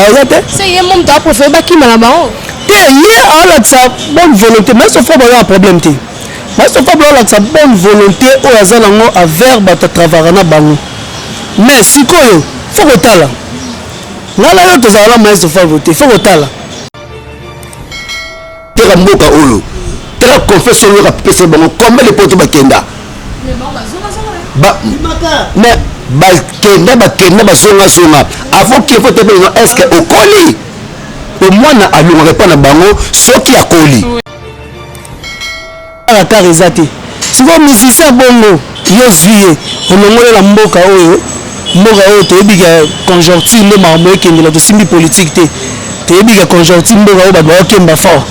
oza te se ye mo moto aprefere bakima na bango te ye aolakisa bonne volonté mais sofa baza na problème te mais sofa baolakisa bonne volonté oyo aza nango avers bato atravara na bango mais sikoyo fo kotala ngai na yo tozala na maestro favo te fo kotala teka mboka oyo teka confession oyo kapesa bango combien de poto bakenda mais bakenda bakenda basongasonga avant qu'il faut tebelino est ce que okoli omwana alongaka epa na bango soki akoli Kaka eza te sikoyo musicien bongo yo ozwi ye olongoli na mboka oyo mboka oyo toyebi ke conjoncture nde makambo ekendela tosimbi politike te toyebi ke conjoncture mboka oyo bato baokemba fort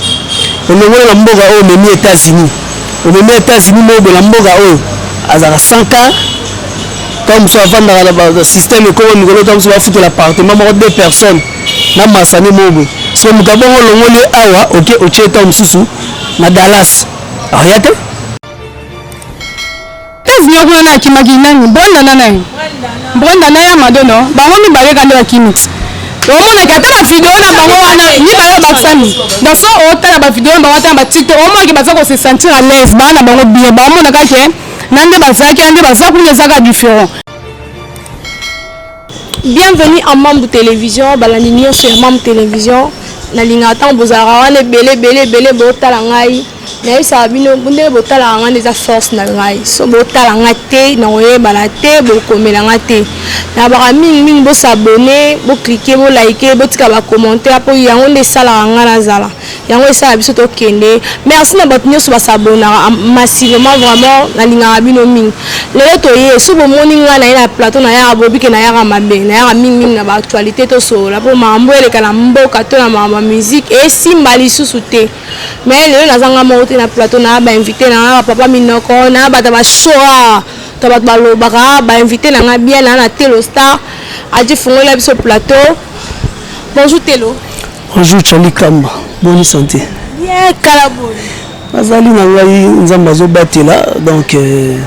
olongoli na mboka oyo omemi états-unis omemi états-unis moyebe na mboka oyo azalaka 100 ka ntango mosusu afandaka na basystème ekoma mikolo ntango mosusu bafutela appartement moko deux personnes na masani moyebe so moto abongo olongoli ye awa oke otie ntango mosusu na Dallas aya te tevio kuna na akimaki nani brenda na nani brenda na ya madono bango mibale kandi bakimi omonaki ata na video na bango wana mibale bakisami daso otala bavideo na bango ata na batiktok omonaki baza kose sentir à l'aise baa na bango bien baomonaka ke na nde bazalaki na nde baza kuna ezaka différent Bienvenue à Mambu Television, balandi nionso ya Mambu Television. Nalingaka ntango bozalaka wana ebele ebele ebele botala ngai nayebisaka bino ndenge botalaka ngai nde eza force na ngai so botala ngai te nakoyebana te bokomela ngai te nabaka mingimingi bosabone boklike bolaike botika bacommentaire mpo yango nde esalaka ngai nazala Yango esala biso tokende. Merci na bato nyoso ba s'abonnaka massivement vraiment nalingaka bino mingi. Lelo toye soki bomoni nga naye na plateau nayaka bobike nayaka mabe nayaka mingi mingi na ba actualite tosolola po makambo eleka na mboka to na makambo ya musique esimba lisusu te mais lelo naza nga moko te na plateau naya ba invite nanga ba papa minoko naya bato ya ba show awa to bato balobaka ba invite nanga bien naya na telo star aji fungoli ya biso plateau bonjour telo Bonjour Charlie Kamba, bonne santé. Bien kala bonne. Azali na ngai Nzambe azobatela donc euh,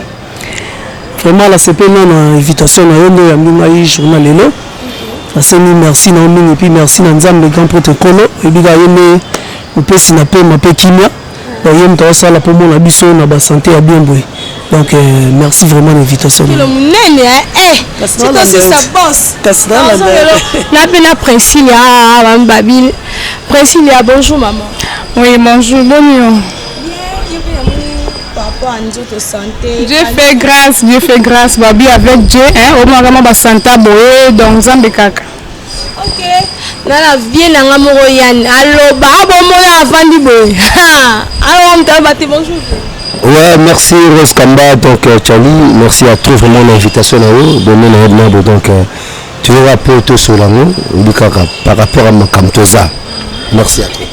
vraiment la CP non na invitation na yo nde oyambi ngai journal lelo. Nasemi merci na yo mingi puis merci na Nzambe grand prêtre Nkolo oyebi kaka ye nde mopesi na pema mpe kimia Bon, ye moto asala mpo mona biso na basante ya bien boye donc euh, merci vraiment na invitation kilo monene na mpe na princilia ah, ah, babile princilia bonjour maman oui bonjour bonio Dieu fait grâce, Dieu fait grâce, Babi avec Dieu, hein, au moins vraiment basanta boye, donc Zambekaka. Ok, na la vie na nga moko Yann aloba abomona ah, avandi boye alors ah, mtaba te bonjour. Ouais, merci Rose Kamba, donc euh, Charlie, merci à toi vraiment l'invitation na yo, bonne na yebna donc euh, tu veux rappeler tout sur l'amour, obikaka par rapport à makamtoza. Merci à toi.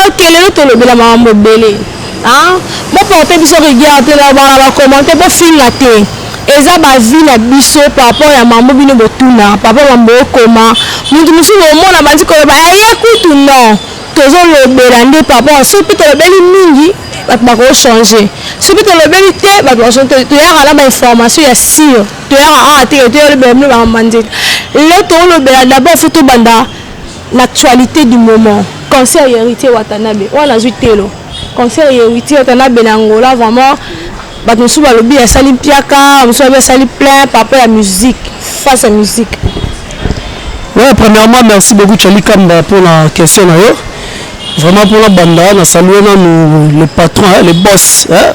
Ok, lelo tolobela makambo ebele. Hein? Bo porter biso rigueur te na bana ba commenter bo finga te. Eza ba vie na biso par rapport ya mambo bino botuna par rapport mambo okoma mutu mususu omona bandi koloba eh ye kutu non tozo lobela nde par rapport soki pe tolobeli mingi bato bako changer soki pe tolobeli te bato bako changer toyaka na ba information ya sure toyaka awa te toyolobela bino ba mambo ya nzela lelo tolobela d'abord faut tobanda L'actualite du moment, concert ya Heritier Watanabe. Oyo nazwi telo. Concert ya Heritier Watanabe na Angola vraiment bato mosusu balobi asali mpiaka, mosusu balobi asali plein par rapport ya musique, face ya musique. Ouais, premièrement, merci beaucoup Charlie Kamba pour la question na yo. Vraiment pour la banda, na saluer nanu le patron, hein, le boss, hein,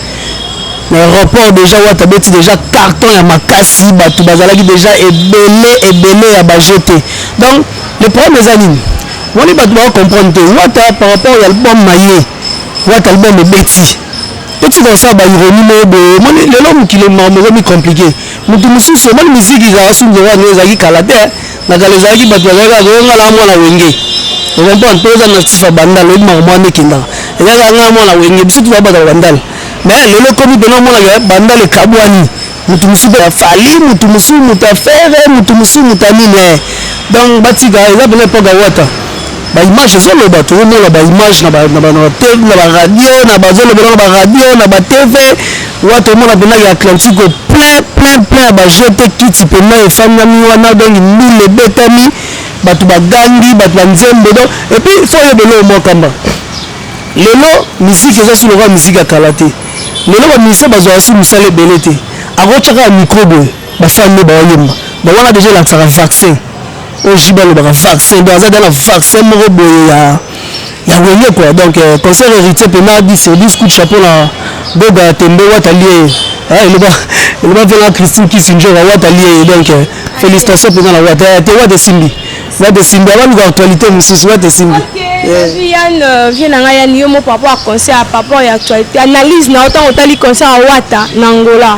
na aéroport déjà wata abeti déjà carton ya makasi bato bazalaki déjà ebele ebele ya baje te donc le problème eza nini wani bato bako comprendre te wata par rapport ya album na ye wata album ebeti totika kosala baironie moko boye omoni lelo mokili moko mi compliqué moto mosusu omoni miziki ezalaka sungi wana ezalaki kala te Na kala ezalaki bato bazalaki kaka koyoka ngai na mwana wenge okompa mpe eza na sifa bandal oyebi makambo wana ekendaka ezalaki kaka ngai mwana wenge biso tozala bataka bandal mais lelo ekomi mpena omonaka bandal ekabwani motu mosusu mpe afali motu mosusu motu afere motu mosusu motu anini eh. donc batika eza mpena epoka wata baimage ezoloba tozomona baimage na baradio na bazolobela na baradio na batv Wata omona pena ya Atlantico plein plein plein ya ba jeux te kiti pena efandami wana donc ndule ebetami bato bagangi bato ba nzembo donc et puis faut oyeba eloko mwa kamba lelo miziki eza si lokola miziki ya kala te lelo ba musicien bazwaka si mosala ebele te akotya kaka micro boye bafani nde baoyemba donc wana deja elakisaka vaccin oyo jibe alobaka vaccin donc aza deja na vaccin moko boye ya yango eye quoi donc euh, concert héritier pena dit sur 10 coup de chapeau na boga ya tembe wata lie ah, eloba eloba mpe na christine kisinjora wata lie donc euh, félicitation mpenza na wata euh, te wata esimbi wata esimbi abaluka actualité mosusu wata esimbi viane vie na ngai yani yo mo papa ya concert papa ya actualité analyse na yo ntango otali concert ya wata na angola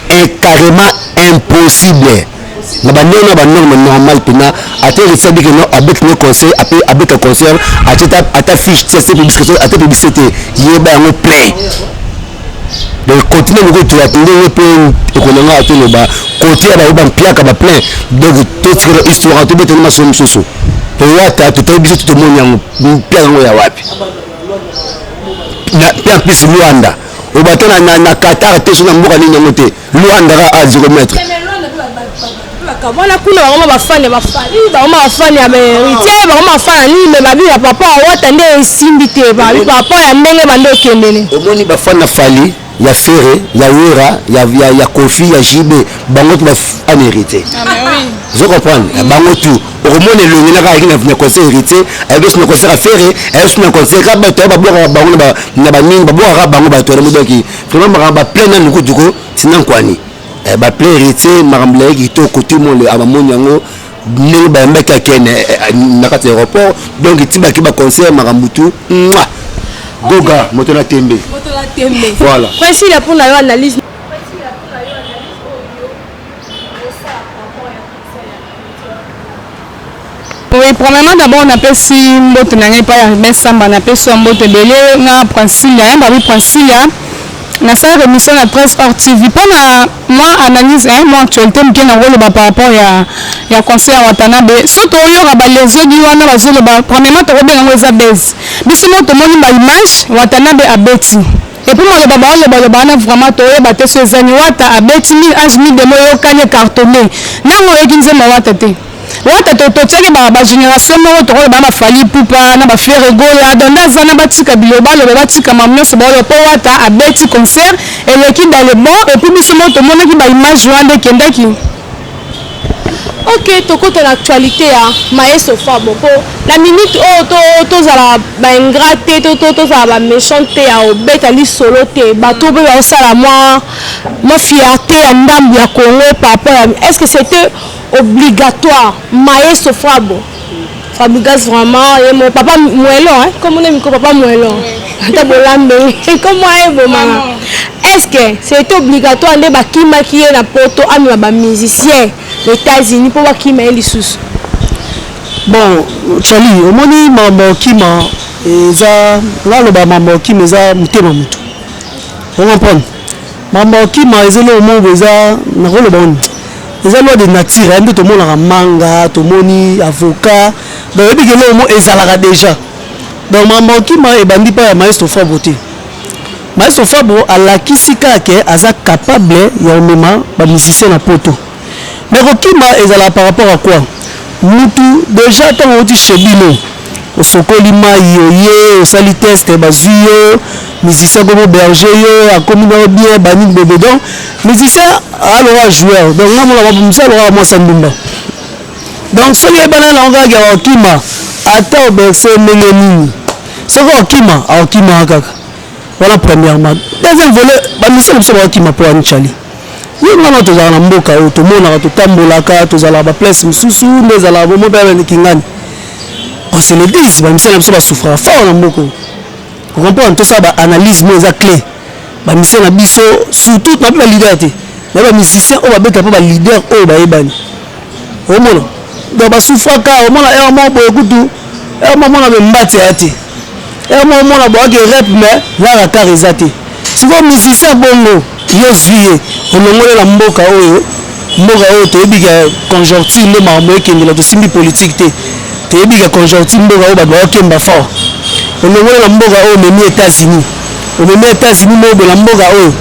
est carrement impossible na bandenge na banorme normal mpena ata heritier abiki no abeti no conseil ape abeta concert atie ata fiche ti atie publicité ata publicité te yeba yango play donc continue moko tuyaki ndenge mpe ekonanga atoloba kote ya bayo bampiaka baplein donc totikela histoire tobetani masolo mosusu towata totayi biso totomoni yango mpiaka yango ya wapi mpe en plus luanda oba te na, na, na qatar te so na mboka nini yango te luandara a zero mètre wana kuna bango bafane bafali bango bafane ya baheritier bango bafana nini me babi ya papa awata nde esimbi te babi papa ya ndenge bande okendele omoni bafana fali ya fere ya wera ya, ya, ya kofi ya jibe bango tu bafane heritier ah, zo comprendre bango tu okomona elongi naka ayaki na conseil héritier ayaki osi na conseil ya fere ayaki osi na conseil ka bato ya babwakaka bango na banini babwakaka bango bato ya namodaki vraiment makambo baplain na lukutu ko tina nkwani eh, baplain héritier makambo layaki kitoko tout le monde abamoni yango ndenge bayambaki akene eh, eh, na kati ya aéroport donc etibaki baconseil makambo tu mwa goga moto na tembe voilà presila mpo na yo analyse Oui, premièrement d'abord na pesi mbote na ngai pa ya Ruben Samba na pesi mbote belé na Princilia hein babi Princilia na sala émission na presse hors TV pour na moi analyse hein moi actualité mke na ngolo ba par rapport ya ya conseil ya Watanabe so to yoka ba les autres wana ba zolo ba premièrement to ko benga ngo eza buzz biso mo to moni ba image Watanabe abeti Epuis maloba bao loba loba wana vraiment to yeba te soki eza nini wata abeti mille ange mille demo eyokani ecartone nanga oyoki nzembo ya wata te wata to to tiaki ba ba generation moko toko loba na ba fali ipupa na ba ferre gola donc nda zana batika biloba ba loba batika mamu nionso bao loba po wata abeti concert eleki dans le bon epuis biso moko tomonaki ba image wana nde ekendaki Ok tokota na actualite ya Maestro Fabo po na minute oyo to tozala ba ingrat te to to tozala ba méchant te ya obeta lisolo te bato mpe baosala mwa mwa fierté ya ndambu ya Congo par rapport ya est-ce que c'était obligatoire Maestro Fabo Fabrigas vraiment ye mo papa mwelo hein comme on miko papa mwelo ata bolambe comme aye bomanga est-ce que c'était obligatoire nde bakimaki ye na poto amema ba musiciens na États-Unis mpo bakima ye lisusu bon Charlie omoni mambo okima eza naloba mambo okima eza motema motu o comprendre Makambo ya kokima eza eloko moko boye, eza nakoloba nini, eza loi de nature hein, nde tomonaka manga, tomoni avocat, donc oyebi ke eloko moko ezalaka dejà, donc makambo ya kokima ebandi epai ya maestro Fabro te, maestro Fabro alakisi kaka ke aza capable ya komema ba musiciens na poto. Mais kokima ezalaka par rapport à quoi? Mutu dejà tango awuti chez bino osokoli mayi oye osali test bazui yo musicien akomi auberger yo akomi na yo bien ba nini boye boye donc musicien aza lokola joueur donc nga namonaka musicien aza lokola mwasi ya ndumba donc soki oyebana na yango kaka ke akokima ata oberse ndenge nini soki akokima akokima kaka wana premièrement deuxième volet ba musicien na biso bakokima po ya nicali Yo nanga tozala na mboka oyo tomonaka totambolaka tozalaka ba place mosusu nde ezalaka bomo mpe abende kingani on se le dise bamisani na biso basouffraka fort na mboka oyo okomprendre tosala ba analyse mo eza clé bamisani na biso surtout nape ba leader te na ba musicien oyo babeta mpe ba leader oyo bayebani omona donc basouffraka omona heure moko boye kutu heure moko omona bembati aya te heure moko omona boyaki rep mais na rakar eza te Sikoyo musicien bongo yo ozui ye olongoli na mboka oyo mboka oyo toyebi ke conjoncture nde makambo ekendela tosimbi politique te toyebi ke conjoncture mboka oyo bato baokemba fort olongoli na mboka oyo omemi Etats-Unis omemi Etats-Unis mobe na mboka oyo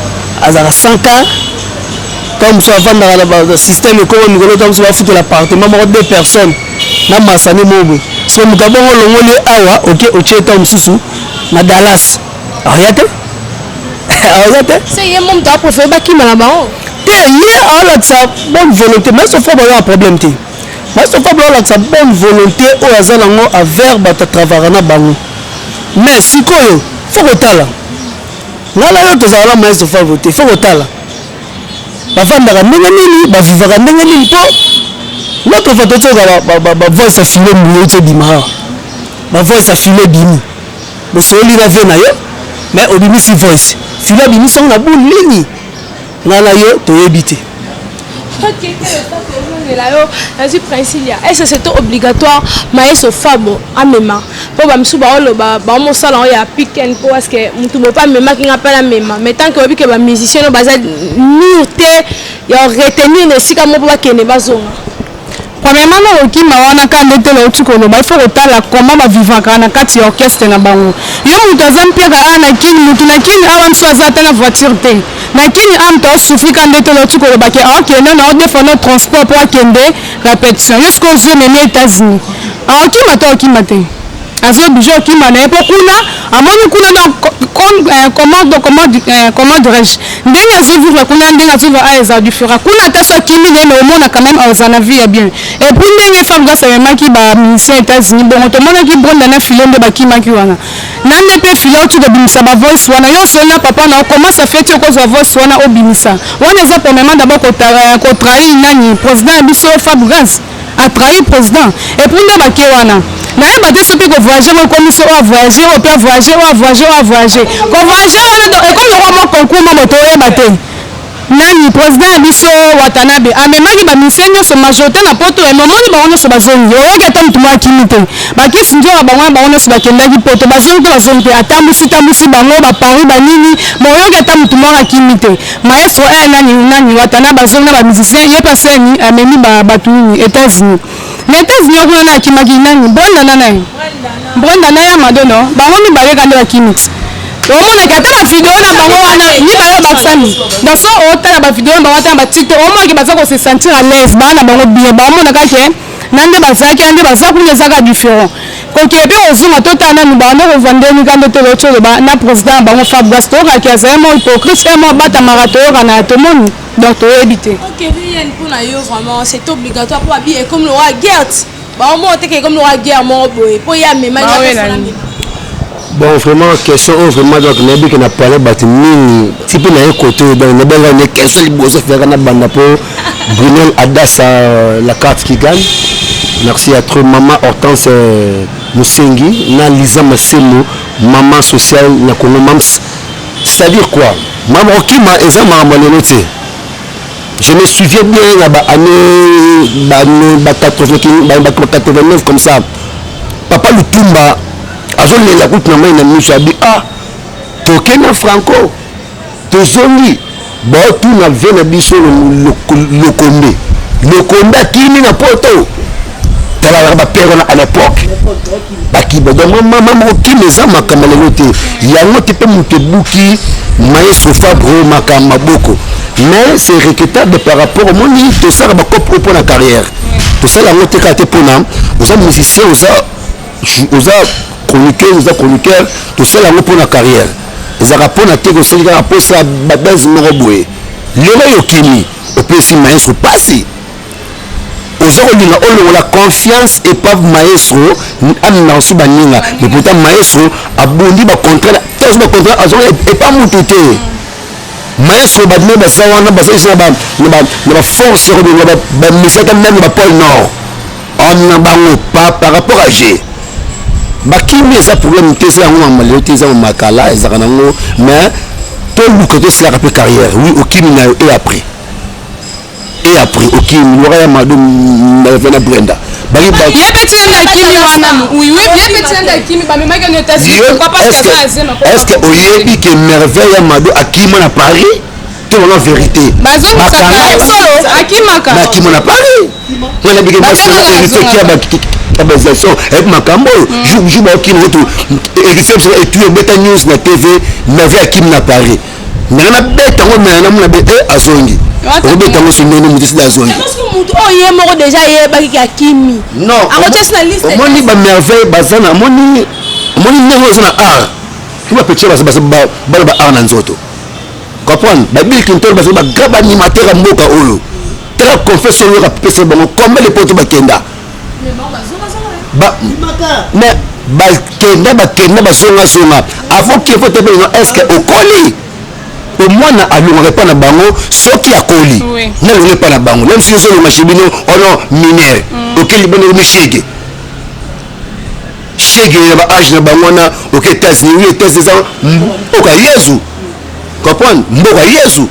azalaka 100 k ntango mosusu afandaka na basystème ekoma mikolo ntango mosusu bafutela appartement moko deux personnes na masani mobe so moto abongo olongoli ye awa oke otie ntango mosusu na Dallas aoya te aoya te se ye mo moto aprefere bakima na bango te ye aolakisa bonne volonté mais sofa bayo ya problème te mais sofa bayo alakisa bonne volonté oyo oh, aza nango avers bato atravara na bango mais sikoyo fo kotala ngai na yo tozala na maestro favo te fo kotala bafandaka ndenge nini bavivaka ndenge nini mpo notre fa totyaka bavoice ya file mbuye euti ebima awa bavoice ya file ebimi Bosololi na vie nayo mais obimisi voice filo abimisi yango na boule nini nga na yo toyebi te ozongela yo nazwi princilia ese seto obligatoire maeso fabo amema mpo bamisusu baoloba baomosala yango ya piken mpo aske motu bope amemaki nga mpe namema mais tant ke oyebi ke bamusicien no baza mur te ya retenir na esika moko mpo bakende bazonga Premièrement na kokima wana ka nde te nauti koloba il faut kotala comment ba vivaka na kati ya orchestre na bango yo moto aza mpiaka awa na kini moto na kini awa nso aza ata na voiture te na kini awa moto aosufri ka nde te nauti koloba ke aokende na odefano transport mpo akende repetition yo sikoyo ozwi omemi etats-unis aokima to aokima te Azo oblige okima na ye mpo kuna amoni kuna na euh, comment donc comment euh, comment dirais-je ndenge azo vivre kuna ndenge azo vivre eza différent kuna ata so akimi na ye mais omona quand même aza na vie ya bien et puis ndenge femme grâce amemaki ba musicien États-Unis bongo tomonaki Brenda na Philo nde bakimaki wana na nde mpe Philo oti kobimisa ba voice wana yo osoli na papa na comment ça fait okozwa voice wana obimisa wana eza premièrement d'abord kotrahir euh, nani président ya biso Fab Grâce a trahir president et puis nde bake wana nayeba te soki kovoyage yango ekomisi oyo avoyage oyo mpe avoyage oyo avoyage oyo avoyage kovoyage wana do ekomi lokwa mwa concours moko toyeba te nani president ya biso watanabe amemaki baministère nyonso majorité na poto ya momoni bango nyonso bazongi oyaki ata motu mwa akimi te bakisi nzoka bango bango nyonso bakendaki poto bazongi te bazongi te atambusi tambusi bango bapari banini moyoki ata motu mwa akimi te Maestro eh nani nani wata na ba zomi na ba musiciens ye pa seni amemi ba batu nini etats unis na etats unis okuna na akimaki nani brenda na nani brenda na ya madono bango mibale kande bakimi omonaki ata bavideo na bango wana mibale babakisami daso otala bavideo na bango ata na batiktok omonaki baza kose sentir à l'aise baa na bango bien baomonaka ke na nde bazalaki na nde baza kuna ezaka différent Kokende pe kozonga totala nanu banda kovua nde mikanda to locho loba na president na bango fabgas toyoka ke azali mua hypocrite pe mua batamaka toyokana ya tomoni donc toyebi te. Ok Ryan mpo na yo vraiment c'est obligatoire mpo abi ekomi lokola guerre ti baomona te ke ekomi lokola guerre moko boye mpo ye amema ye mpe asala amema. bon vraiment question oyo vraiment donc nayebi ke na pale bato mingi ti mpe naye kote oyo donc nabengaka ne question liboso feyaka na banda mpo brunel adasa euh, la carte qui gagne merci à trop mama hortense euh, mosengi na liza masemo mama social na congo mams c'est-à-dire quoi mama okima eza makambo lelo te je me souviens bien na baannée ba 89 comme ça papa lutumba azolela kutu na mai na miso abi a ah, toke na franco tozongi baotuna vie na biso lokombe lokombe akimi na poto talalaka bapere wana à l'époque bakiba donc mama moko kima eza makambo lelo te yango te mpe moto ebuki maye sofabro makambo maboko mais c'est regrettable par rapport omoni tosala bakope oyo mpo na carrière tosala yango te kaka te mpona oza musicien oza oza chroniqueuse oza chroniqueur tosala yango mpo na carrière ezalaka mpo na te kosali kaka mpo esala babese moko boye lelo oyo okimi opesi maestro mpasi oza kolinga olongola confiance epave maestro amema nsu baninga me pourtant maestro abundi bacontrat te azwi bacontrat azonga epa motu te maestro badine baza wana basalisi na baforce ya kobinga bamesaka meme na bapole nord On na bango pa par rapport à je bakimi eza problème te eza yango mama lelo te eza mama kala ezalaka nango mais toluka tosilaka mpe carrière oui okimi na yo et après et après okimi lora ya mado na brenda bangi bato ye mpe tienda akimi wana oui oui ye mpe tienda akimi bamemaki yango etats-unis pourquoi pas est-ce que oyebi que merveille ya mado akima na paris tolo na verité nakima na paris nga nabike basoabaisation eyebi makambo oyo jour jour baokina otu héritier biso etui obeta news na tv merve akimi na paris ndenge nabeta ngo mena namona be e azongi okobeta ngo sondoni moto esili azongi moto oyo ye moko deja ayebaki ke akimi non omoni bamerveille baza na omoni omoni ndenge oyo eza na art to bapetire bana ba art na nzoto Comprendre? Ba Bill Clinton bazali ba grand animateur ya mboka oyo. Tala confession oyo kapesa bango combien de poto bakenda. Ba mais bakenda bakenda bazonga zonga avant qu'il faut taper non est-ce que okoli? po mwana alongaka epai na bango soki akoli nalonga epai na bango meme soki ozolonga chez bino ono minere okeli bino mishege Chegue na ba age na bango wana oke Etats-Unis oui Etats-Unis eza mboka Yezu comprendre mboka Yezu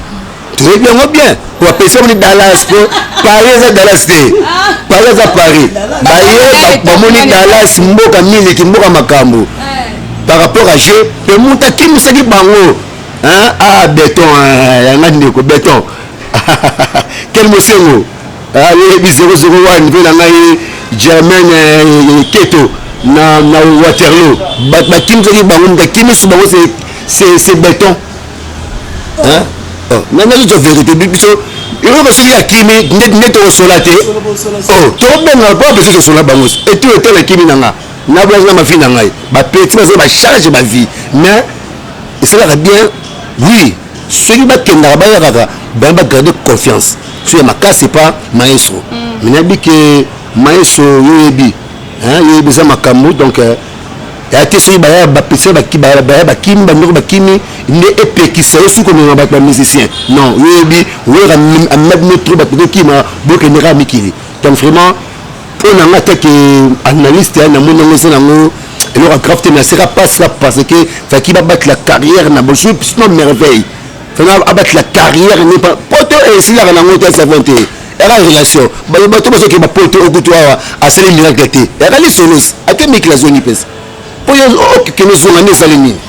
toyebi yango bien bapesa moni Dallas po Paris eza Dallas te Paris eza Paris baye bamoni Dallas mboka miliki mboka makambo par rapport à jeu pe mutu akimisaki bango ah beton yanga ndeko beton kel mosengo Nayebi zero zero one mpe na ngai Germaine eh, Keto na, na Waterloo bakimisaki bango moto akimisi bango se beton oh, nani azozwa verité biso eloko soki akimi nde tokosola te oh, tobenga mpo apesi tosola bango etu etala akimi na nga na bwaki na mavi na ngai bapeti baza bacharge bavie mais esalaka bien oui soki bakendaka bayakaka bana bagarde confiance so ya makasi pa maestro mm. mina bi ke maestro yoyebi yoyebi eza makambo donc euh, ya te soki baya bapesa baya bakimi bandeko bakimi nde epekisa yo soki komema bato bamusicien non yoyebi oyaka amemaki no trop bato kokima bokende kaka mikili donc vraiment oyo na nga teke analyste na moni yango eza nango eloko ya grave te mais aseka pasi ya parce que faki babatela carrière na bosu pisino merveille fana abatela carrière ne poto esilaka nango te savon te eka relation bato bazokeba poto okutu awa asali miracle te eka lisolosi ate mikila zongi mpesa po yo okende ozonga nde ezali nini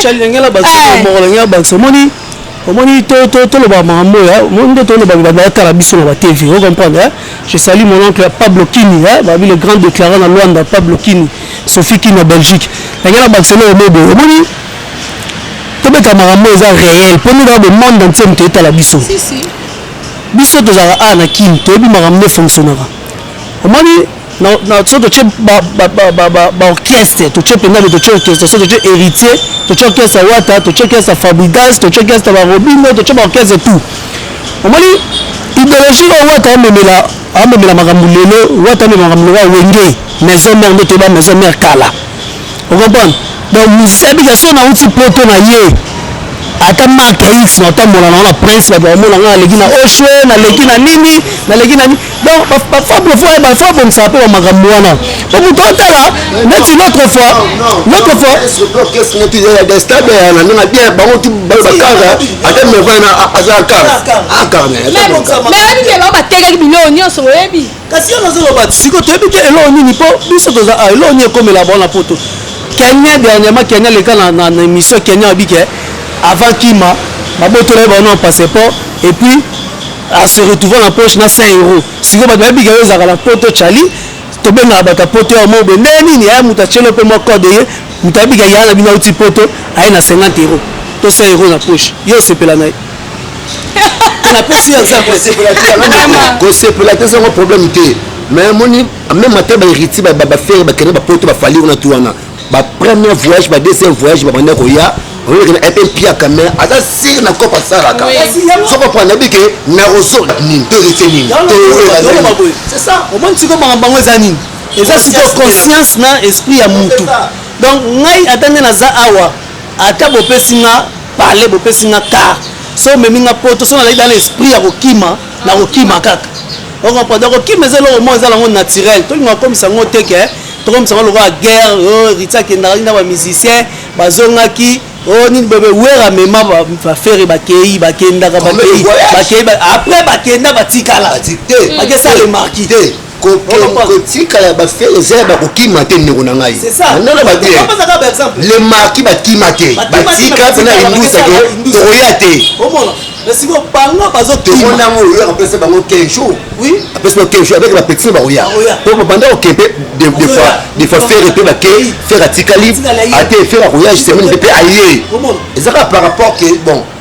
calingela basomokolangela bakisa omoni omoni toloba makambo oyo nde tolobaaatala biso na batv o comprendre eh? je sali mon oncle ya pablo kini eh? babi le grand déclarant na luanda pablo kini sophie kini na belgique yange na bakisa eloko moboye omoni tobeta makambo eza réel mpo nde kaka bomonde ntie moto etala biso biso tozalaka awa na kini toyebi makambo nde fonctionnaka omoni so totye baorchestre totye mpenza me totye orchestre so totye héritier totye orchestre ya wata totye orchestre ya fabrigas totye orchestre ya barobino totye baorchestre tout omoni idéologie oyo wata amemela amemela makambo lelo wata amemela makambo lelo ya wenge maison mère nde toyeba maison mère kala okomprendre donc musicien abika so nauti poto na ye ata marke ya x natambola nango na prince bato bakomona ngai naleki na oshwe naleki na nini naleki na nini donc bafo abongisaka mpe bamakambo wana po moto atala neti notre fois notre fois batekaki biloko nyonso oyebi kasi yo nazoloba ti sikoyo toyebi te eloko nini mpo biso toza ah, eloko nini ekomela bona poto kenya dernièrement kenya leka na, na, na émission kenya abi ke avant kima babotolaki bango na passeport et puis à se retrouver na poche na 100 euros sikoyo bato bayebi ke yo ezalaka na poto chali tobengaka bato ya poto ya mobe ndenge nini aya moto atyelo mpe mwa code ye moto ayebi ke yaa na bino auti poto aye na 50 euros to 100 euros na poche yo osepela na ye napesi yo examplekosepola te ezango problème te mais amoni meme ata baheritier bafere bakende bapoto bafali wana tu wana bapremier voyage badeuxième voyage babanda koya olekena epe mpiaka me aza sire na kope asalaka soko mpo anayebi ke nakozo nini to héritier nini omoni sikoyo makambo yango eza nini eza sikoyo conscience na esprit ya mutu donc ngai ata nde naza awa ata bopesi nga pale bopesi nga kar so omemi nga poto so nalaki dana esprit ya kokima na kokima kaka okomprendre kokima eza eloko moko eza nango naturel tolingaka komisa yango te ke tokomisa yango lokola guerre oyo oh, riti akendaka nina bamusicien bazongaki o oh, nini bebe wera mema bafere bakei bakendaka bakei bakei après bakenda batikala bakesala remarki te kotika ya bafele eza ya bakokima te ndeko na ngai nana babe le marki bakima te batika mpena indusa ke tokoya te tomona yango oyo apesa bango 15 jours apesa bango 15 jours avec bapetisi bakoya po babanda kokempe des fois fere mpe bake fere atikali ate fere akoya semaine mpe mpe aye ezaka par rapport ke bon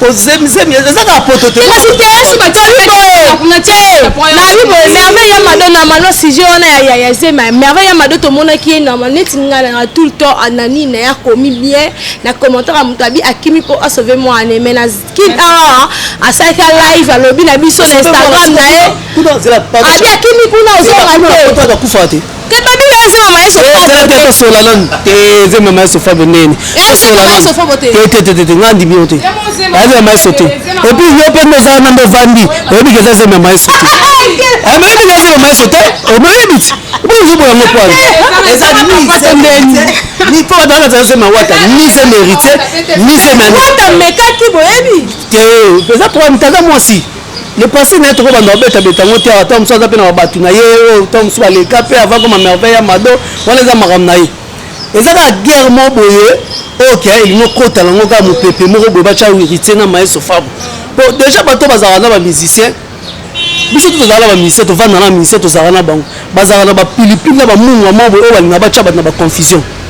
kozemizemi eza kaka poto te kasi te yesu batyalikuna te nayebi boye merveille ya mado na mano sujet wana ya ya zema merveille ya mado tomonaki ye na neti ngai nanga tout le temps anani na ye akomi bien na commentaire ya moto abi akimi mpo asauve mwana me na kin awa asalaki live alobi na biso na instagram na ye abi akimi kuna ozonga te tosola nanu te nzembo ya maestro fabo nene tosolatete nga ndimi yo te ayebi ya maestro te epuis yo mpe nde ozala nande ovandi oyebi ke eza nzembo ya maestro te oyebi ke nzembo ya maestro te oyebi ti ozobo yango pwana eza nise ndeni ni mpo bato bazala nzembo ya wata ni nzembo heritier ni nzembo ya wata mekaki boyebi te eza mpo mitaka mwasi le passé naye toko banda obeta beta ngo te awa to mosusu aza pe na batu na ye oyo to mosusu baleka pe avant koma merveille ya mado wana eza makambo na ye eza kaka guerre moko boye oyo kia elingi okota nango kaka mopepe moko boye batya wiritie na maestro fabre po déjà bato bazalaka na bamusicien biso to tozalaka na bamusicien tovanda na bamusicien tozalaka na bango bazalaka na bapilipili na bamungwa moko boye oyo balinga batya bato na baconfusion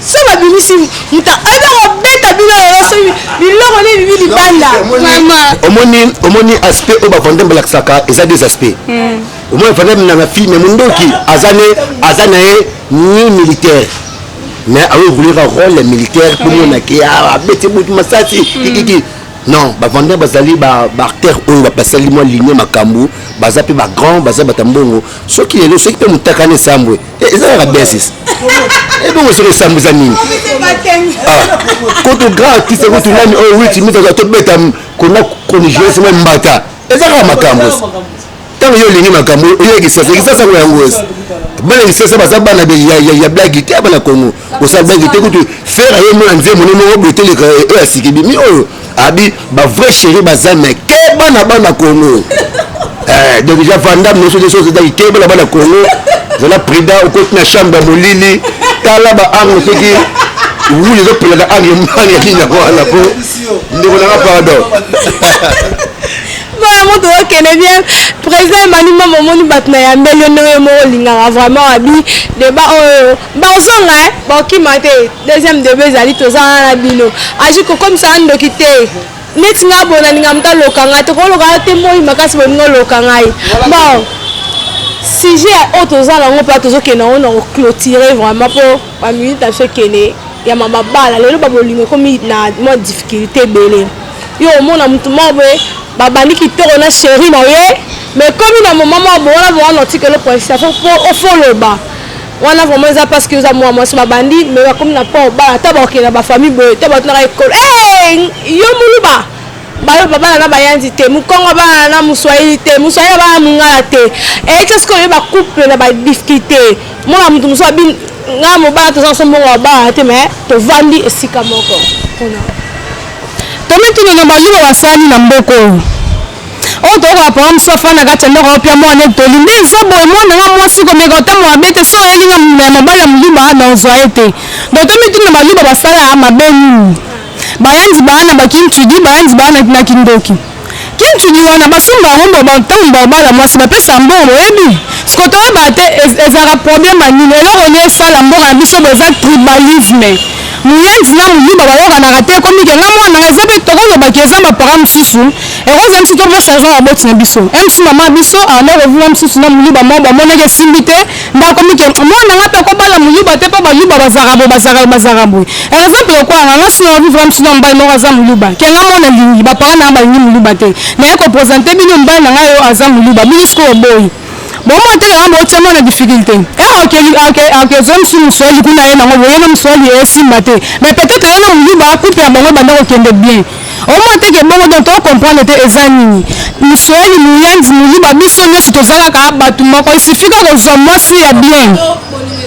soki babimisi muta aza kobeta bino lelo soki biloko nde bibi libanda omoni omoni aspect oyo bavandembe balakisaka eza des aspect hmm. omoni vandembe na film ya mondoki aza ne aza na ye ni militaire mais aoevolira role militaire tomonake ah, abeti butu masasi hmm. kikiki non bavandai bazali baartere oyo basali mwa linie makambo baza mpe bagrand baza bata mbongo soki lelo soki mpe motakana esambwe Eh, eza kaka bien sisi ebongo eh, soki esambo eza nini ah, koto grand artiste kutu nani oyo oh, witi mitaka tobeta kona conigence mwa mbata eza kaka makambo ntango yo olingi makambo oyekisasa ekisasa ngo yango esi bana lisasa baza bana ya blagi te bana kongo osala baki te kutu fere aye mona nzembo mone moko boteleka oyo eh, eh, asikibi mi oyo abi bavrai chéri baza me keba na bana kongo eh, donc ja vandam noso te soso daki keba na bana kongo zala prida okoti na chambre ya molili tala baarme soki wuli ezopelaka arme mani ya nini yango wana po ndeko nanga pardon mpona moto okende bien président emani mama omoni bato na yambeli yo ndenge moko olingaka vraiment abi deba oyo Bozonga eh, bokima te. Deuxième debe ezali toza wana na bino. Aji kokomisa na ndoki te. Neti nga bona ninga muta loka nga te ko loka te moyi makasi boningo loka ngai. Bon. Sujet oyo toza nango mpe tozokende yango na koclotire vraiment mpo baminute na biso ekende ya mama bala lelo babolingo ekomi na mwa difficulté ebele yo omona motu moko boye babandi kitoko na sheri na ye mais ekomi na moma moko bowana bowana otikelo poinsi fo ofoloba wana vraiment eza parce que oza mwa mwasi babandi mais bakomi na port bala ata bakokende na bafamille boye to bato naka ekolo eh, yo muluba bayo babala na bayanzi te mokongo abala na moswahili te moswahili abala na mongala te eyaki eh, soki oyo bacouple na badifficulté mwana moto mosusu abi ngai mobala toza nso mbongo babala te mais tovandi esika moko tomituni na baluba basani na mboka oyo oyo toyoko na programme so afanda kati ya ndako opia mwana etoli nde eza boye mwana nga mwasi komeka otango mabe te so oyeli nga ya mobali ya moluba na ozwa ye te donc tomituni na baluba basala mabe nini bayanzi baana bakintudi bayanzi baana na kindoki kintudi wana basomba yango mbo ntango babala mwasi bapesa mbongo boyebi siko toyeba te ezalaka problème ya nini eloko nini esala mboka na biso bo eza tribalisme muyenzi na muyuba bayokanaka te ekomi ke nga mwana eza mpe tokolobaki eza bapara mosusu yango eza nti topesa raison ya baboti na biso mc mama biso abanda ah, kovula mosusu na moluba moko bamonaki esimbi te nde akomi ke mwana nga mpe akobala moluba te mpo baluba bazaka boye bazaka boye bazaka boye eh, eza mpe lokola nga nga sila vivre mosusu na mobali moko aza moluba ke nga mwana lingi bapara na nga balingi moluba te naye kopresente bino mobali na ngai oyo aza moluba bino sikoyo boyi Bongo otala yango otia mwana difficulté. Eh ok ok ok zo msumu swali kuna ye nango boye na mswali ye simba te. Mais peut-être ye na muluba couple ya bango banda ko kende bien. Omo te ke bongo donc to comprendre te eza nini. Mswali muyanzi muluba biso nyoso tozalaka batu moko il suffit kaka ozwa mwasi ya bien.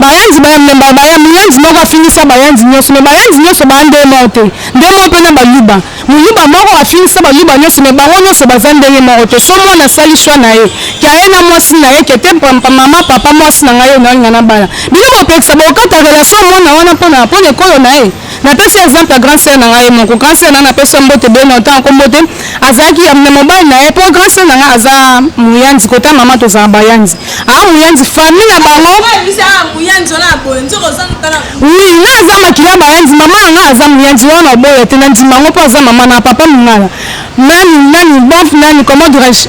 Bayanzi ba membaka baya muyanzi moko afingisa bayanzi nioso mais bayanzi nioso baya ndenge moko te ndenge moko pe na baluba muluba moko afingisa baluba nioso mais bango nioso baza ndenge moko te soki muana asali choix naye ke aye na muasi naye ke te maman papa muasi na ngai oyo nalinga nabala bino bopekisa bokata relation ya muana wana pona pona ekolo naye Napesi yo exemple ya grand sœur na ngai moko. Grand sœur na ngai napesi yo mbote bien longtemps ako mbote. Azalaki ya mobali na ye mpo grand sœur na ngai aza muyanzi kota mama tozala bayanzi. Ah muyanzi famille na bango. Oui, nga aza makila bayanzi mama na ngai aza muyanzi wana oboya te na ndima yango mpo aza mama na papa mungala. Nani nani bon nani comment dirais-je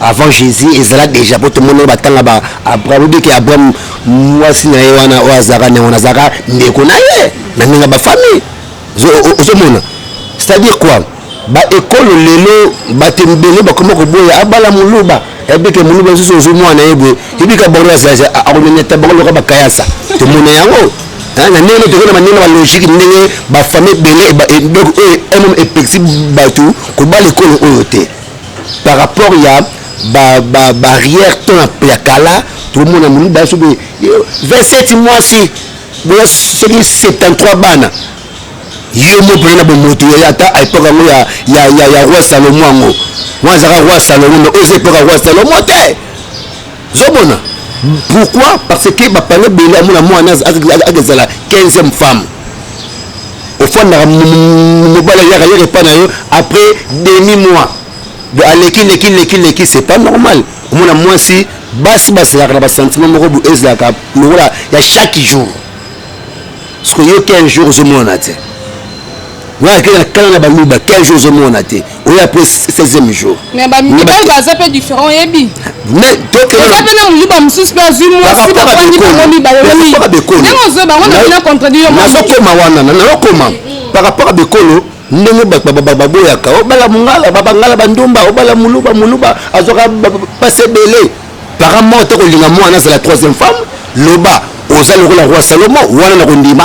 avant jésus ezala déjà mpo tomonaki batanga ba abraham obiki abraham mwasi na ye wana oyo azalaka nango nazalaka ndeko na ye na ndenge ya bafamille ozomona c'est-à-dire quoi baekolo lelo bato ebele bakoma koboya abala moluba ebike moluba lisusu ozwi mwana ye boye ebika bango akoneneta bango loka bakayasa tomona yango na ndenge nde tokoki na bandenge na balogike ndenge bafamille ebele donc oyo emom epekisi bato kobala ekolo oyo te par rapport ya ba, ba barrière temps ya kala tomona moni baso be 27 mwasi boya soki 73 bana yo mo mpena na bomoto yo ata a epoke yango ya, ya, ya, ya roi salomo yango wana azalaka roi salomo me oza epoke ya roi salomo te zomona pourquoi parce que bapana ebele amona mwana akezala 15e femme ofandaka mobali ayaka yaka epai na yo après demi mois do aleki leki leki leki c'est pas normal omona mwasi basi bazelaka na basentiment moko bo ezalaka lokola ya chaque jour soki oyoki un jour ozomonana te nga ake na kala na baluba 15 jours ozomona te oyo après 16e jour mais bamibali baza mpe différent oyebi oza mpe na moluba mosusu mpe azwi mwasi bafandi bango mibale ndenge ozwi bango na contradi yo nazokoma wana nazokoma par rapport a bekolo ndenge baboyaka obala oh, mongala babangala bandumba obala oh, moluba moluba azwaka mpasi ebele para moko te kolinga mwana azala troisième femme loba oza lokola roi salomo wana na kondima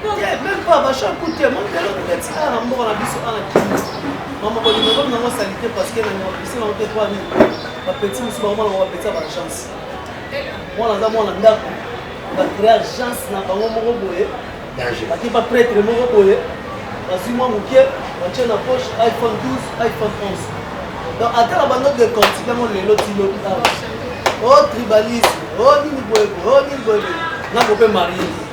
te meme pas bachar ku te moni lelo kokati awa na mboka na biso awa kini mama bolingo ekomi nango salite parce que na mabisi nango te poani bapeti mosusu bango mwana bapeti ya baagence mwana aza mwana ndako bacrea agence na bango moko boye bake bapretre moko boye bazwi mwa moke batie na poche iphone 12 iphone 11 donc ata na bando de quantité yango lelo tilobi awa o tribalisme o nini boye boye o nini boye boye nango mpe marie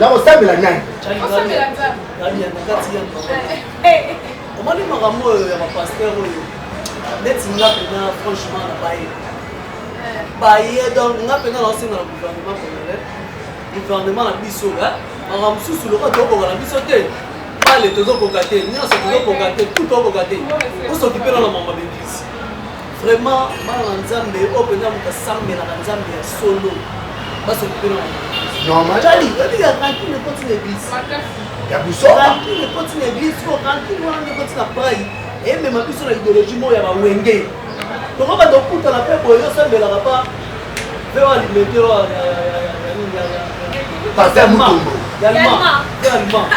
nakosambela nani omoni makambo oyo ya bapaster oyo neti nga mpena franchement na baye baye donc nga mpena naosenga na gouvernement congolais gouvernement na biso makambo mosusu lokola tokoka na biso te bale tozokoka te nyonso tozokoka te tu tokoka te osokipe na na mama bebisi Vraiment bana na nzambe oyo mpenza moto asambelaka nzambe ya solo basokipela normal tali oyebi ya rancune ekoti na eglise ya busoba rancune ekoti na eglise ko rancune wana nde ekoti na pai emema biso na idéologie moko ya bawenge toko bato okutana mpe boye osambelaka pa mpe walimete wa pasteur mutombo allemand allemand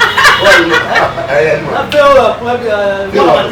allemand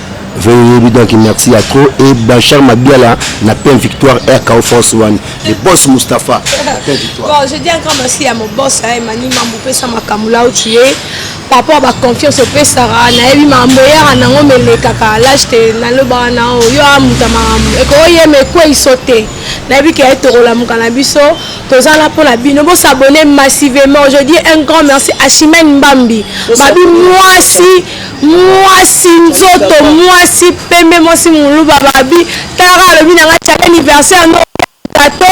Veuillez yebi donc merci ya trop et Blanchard Mabiala na plein victoire RKO France One le boss Mustapha na plein victoire. Bon, je dis un grand merci à mon boss hein, Mani Mambu pesa makambo là où tu es par rapport à ba confiance opesaka nayebi makambo eyaka nango melekaka lage te nalobaka na yo yo amuta makambo ekoyema ekweiso te nayebi ke tokolamuka na biso toza na mpo na bino bosabone massivement je dis un grand merci à chimène mbambi mabi mwasi mwasi nzoto mwasi pembe mwasi muluba babi tala kaka alobi na nga tiaka anniversaire no gato